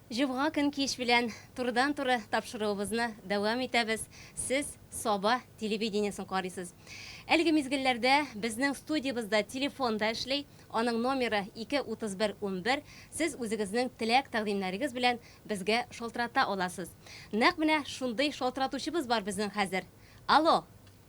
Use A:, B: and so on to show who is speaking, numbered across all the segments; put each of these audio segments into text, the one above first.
A: Җомга көн кич белән турыдан-туры тапшыруыбызны дәвам итәбез. Сез Саба телевидениесен карыйсыз. Әлеге мизгелләрдә безнең студиябызда телефон да эшли, аның номеры 2 31 11, сез үзегезнең теләк-тәкъдимнәрегез белән безгә шалтырата аласыз. Нәкъ менә шундый шалтыратучыбыз бар безнең хәзер. Алло!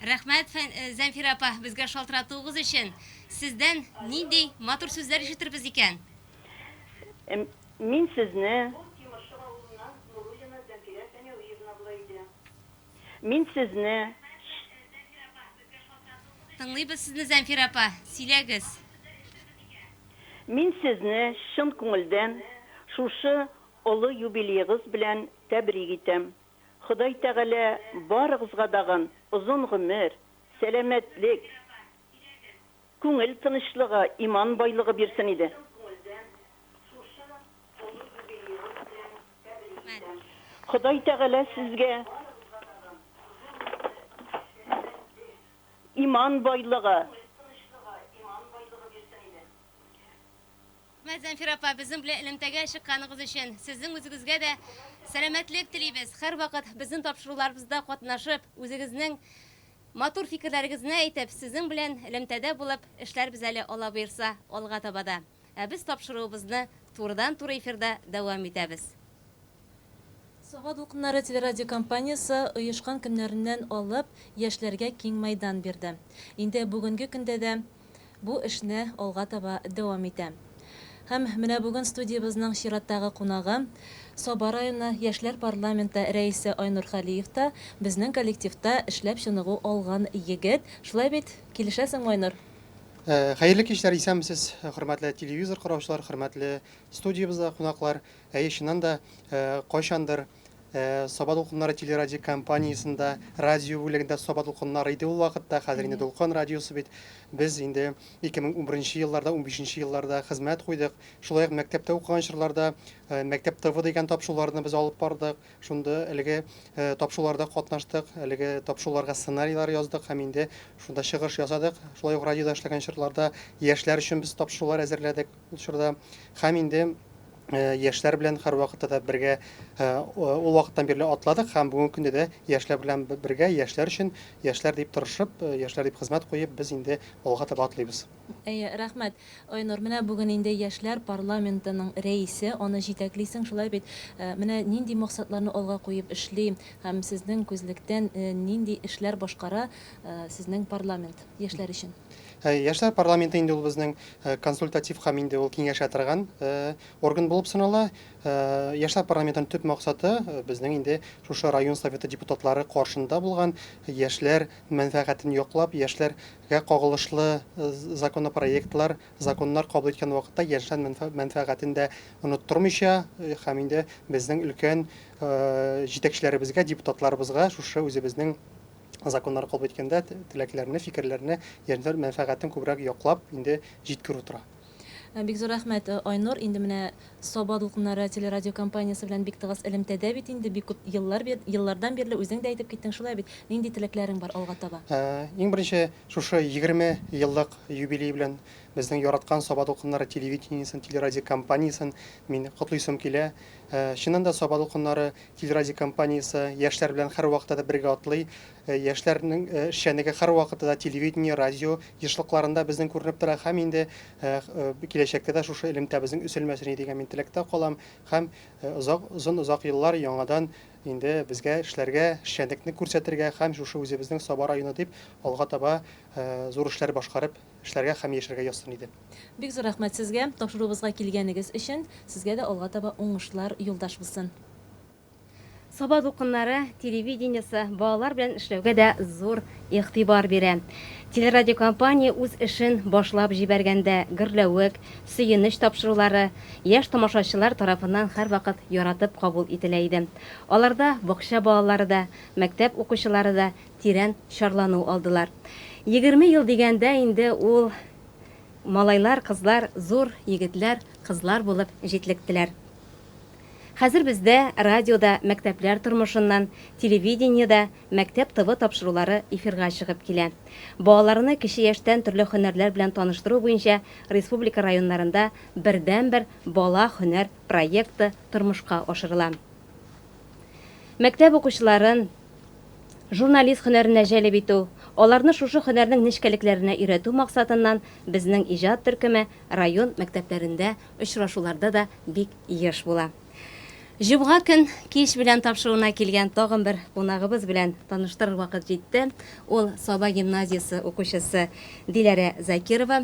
A: Рәхмәт, Зәнфирә апа, безгә шалтыратуыгыз өчен. Сездән нинди матур сүзләр ишетербез икән? Мин сезне. Ул Тимершык авылыннан Нуруллина Зәнфирә Фәнәвиевна була иде. Мин сезне. Рәхмәт, Зәнфирә апа, безгә шалтыратуыгыз өчен. Тыңлыйбыз сезне, Зәнфирә апа, сөйләгез. Мин сезне чын күңелдән шушы олы юбилеегыз белән тәбрик итәм. Ходай Тәгалә барыгызга дагын озын гомер, сәламәтлек, күңел тынычлыгы, иман байлыгы бирсен иде. Ходай Тәгалә сезгә иман байлыгы. Рәхмәт, Зәнфирә апа, безнең белән элемтәгә чыкканыгыз өчен. Сезнең үзегезгә дә сәламәтлек телибез. Һәрвакыт безнең тапшыруларыбызда катнашып, үзегезнең матур фикерләрегезне әйтеп, сезнең белән элемтәдә булып эшләрбез әле, Алла боерса, алга таба да. Ә без тапшыруыбызны турыдан-туры эфирда дәвам итәбез. Саба дулкыннары телерадиокомпаниясе оешкан көннәреннән алып яшьләргә киң мәйдан бирде. Инде бүгенге көндә дә бу эшне алга таба дәвам итә. Һәм менә бүген студиябезнең чираттагы кунагы, Саба районы яшьләр парламенты рәисе Айнур Халиев та, безнең коллективта эшләп чыныгу алган егет. Шулай бит, килешәсеңме, Айнур? Хәерле кичләр, исәнмесез, хөрмәтле телевизор караучылар, хөрмәтле студиябездә кунаклар. Әйе, чыннан да, кайчандыр Саба дулкыннары телерадиокомпаниясендә, радио бүлегендә Саба дулкыннары иде ул вакытта, хәзер инде Дулкын радиосы бит. Без инде 2011 елларда, унбишенче елларда хезмәт куйдык. Шулай ук мәктәптә укыган чорларда Мәктәп ТВ дигән тапшыруларны без алып бардык. Шунда әлеге тапшыруларда катнаштык, әлеге тапшыруларга сценарийлар яздык һәм инде шунда чыгыш ясадык. Шулай ук радиода эшләгән чорларда яшьләр өчен без тапшырулар әзерләдек ул чорда. Һәм инде яшьләр белән һәрвакытта да бергә ул вакыттан бирле атладык һәм бүгенге көндә дә яшьләр белән бергә, яшьләр өчен, яшьләр дип тырышып, яшьләр дип хезмәт куеп, без инде алга таба атлыйбыз. Әйе, рәхмәт. Айнур, менә бүген инде яшьләр парламентының рәисе, аны җитәклисең, шулай бит? Менә нинди максатларны алга куеп эшли һәм сезнең күзлектән нинди эшләр башкара сезнең парламент яшьләр өчен? Яшьләр парламенты инде ул безнең консультатив һәм инде ул киңәшә торган орган булып санала. Яшьләр парламентының төп максаты безнең инде шушы район советы депутатлары каршында булган яшьләр мәнфәгатен яклап, яшьләргә кагылышлы законопроектлар, законнар кабул иткән вакытта яшьләр мәнфәгатен дә оныттырмыйча һәм инде безнең өлкән җитәкчеләребезгә, депутатларыбызга шушы үзебезнең Законнар кабул иткәндә теләкләрне, фикерләрне, яшьләр мәнфәгатен күбрәк яклап инде җиткерү тора. Бик зур рәхмәт, Айнур. Инде менә Саба дулкыннары телерадиокомпаниясе белән бик тыгыз элемтәдә бит инде, бик күп еллар бир, еллардан бирле үзең дә әйтеп киттең, шулай бит? Нинди теләкләрең бар алга таба? Иң беренче, шушы егерме еллык юбилей белән безнең яраткан Саба дулкыннары телевидениесен, телерадиокомпаниясен мин котлыйсым килә. Чыннан да, Саба дулкыннары Телерадио компаниясе яшьләр белән һәрвакытта да бергә атлый. Яшьләрнең эшчәнлеге һәрвакытта да телевидение, радио ешлыкларында безнең күренеп тора һәм инде киләчәктә дә шушы элемтәбезнең өселмәсен иде дигән мин теләктә калам һәм озак, озын-озак еллар яңадан инде безгә эшләргә, эшчәнлекне күрсәтергә һәм шушы үзебезнең Саба районы дип алга таба зур эшләр башкарып эшләргә һәм яшәргә язсын иде. Бик зур рәхмәт сезгә, тапшыруыбызга килгәнегез өчен, сезгә дә алга таба уңышлар юлдаш булсын. Саба дулкыннары телевидениесе балалар белән эшләүгә дә зур игътибар бирә. Телерадиокомпания үз эшен башлап җибәргәндә, гөрләвек, сөенеч тапшырулары яшь тамашачылар тарафыннан һәрвакыт яратып кабул ителә иде. Аларда бакча балалары да, мәктәп укучылары да тирән чарлану алдылар. Егерме ел дигәндә инде ул Малайлар, кызлар зур егетләр, кызлар булып җитлектеләр. Хәзер бездә радиода мәктәпләр тормышыннан, телевидениедә мәктәп ТВ тапшырулары эфирга чыгып килә. Балаларны кече яшьтән төрле һөнәрләр белән таныштыру буенча республика районнарында бердәнбер Бала һөнәр проекты тормышка ашырыла. Мәктәп укучыларын, Журналист һөнәренә җәлеп итү, аларны шушы һөнәрнең нечкәлекләренә өйрәтү максатыннан безнең иҗат төркеме район мәктәпләрендә очрашуларда да бик еш була. Җомга көн кич белән тапшыруына килгән тагын бер кунагыбыз белән таныштырыр вакыт җитте, ул Саба гимназиясе укучысы Диләрә Закирова.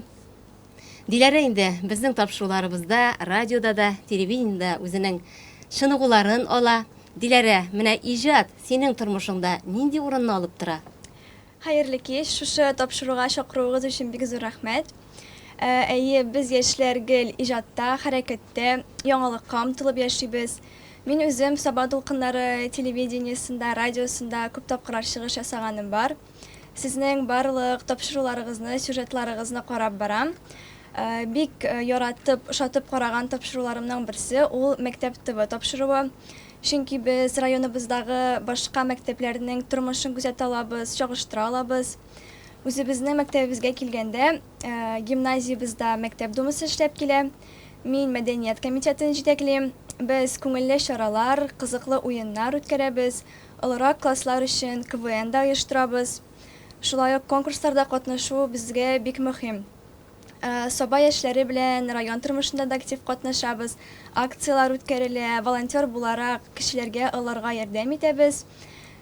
A: Диләрә инде безнең тапшыруларыбызда, радиода да, телевидениедә үзенең чыныгуларын ала. Диләрә, менә иҗат синең тормышыңда нинди урынны алып тора? Хәерле кич! Шушы тапшыруга чакыруыгыз өчен бик зур рәхмәт! Әйе, без яшьләр гел иҗатта, хәрәкәттә, яңалыкка омтылып яшибез. Мин үзем Саба дулкыннары телевидениесендә, радиосында күп тапкырлар чыгыш ясаганым бар. Сезнең барлык тапшыруларыгызны, сюжетларыгызны карап барам. Бик яратып, ошатып караган тапшыруларымның берсе ул мәктәп ТВ тапшыруы. Чөнки без районыбыздагы башка мәктәпләрнең тормышын күзәтә алабыз, чагыштыра алабыз. Үзебезнең мәктәбебезгә килгәндә, гимназиябездә мәктәп думасы эшләп килә. Мин мәдәният комитетын җитәклим. Без күңелле чаралар, кызыклы уеннар үткәрәбез. Олырак класслар өчен КВН да оештырабыз. Шулай ук конкурсларда катнашу безгә бик мөһим. Саба яшьләре белән район тормышында да актив катнашабыз, акцияләр үткәрелә, волонтер буларак, кешеләргә олырга ярдәм итәбез.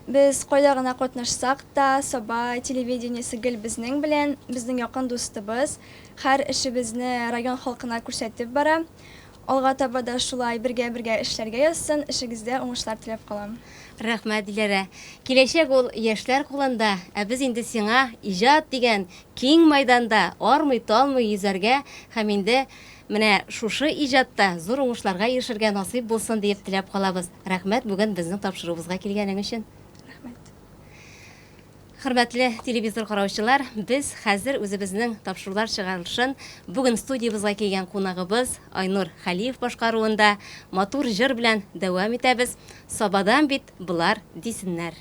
A: Без кайда гына катнашсак та, Саба телевидениесе гел безнең белән, безнең якын дустыбыз, һәр эшебезне район халкына күрсәтеп бара. Алга таба да шулай бергә-бергә эшләргә язсын, эшегездә уңышлар теләп калам. Рәхмәт, Диләрә! Киләчәк ул яшьләр кулында, ә без инде сиңа иҗат дигән киң майданда армый-талмый йөзәргә һәм инде менә шушы иҗатта зур уңышларга ирешергә насыйп булсын диеп теләп калабыз. Рәхмәт бүген безнең тапшыруыбызга килгәнең өчен! Рәхмәт! Хөрмәтле телевизор караучылар, без хәзер үзебезнең тапшырулар чыгарылышын бүген студиябызга килгән кунагыбыз Айнур Хәлиев башкаруында матур җыр белән дәвам итәбез, Сабадан бит болар дисеннәр.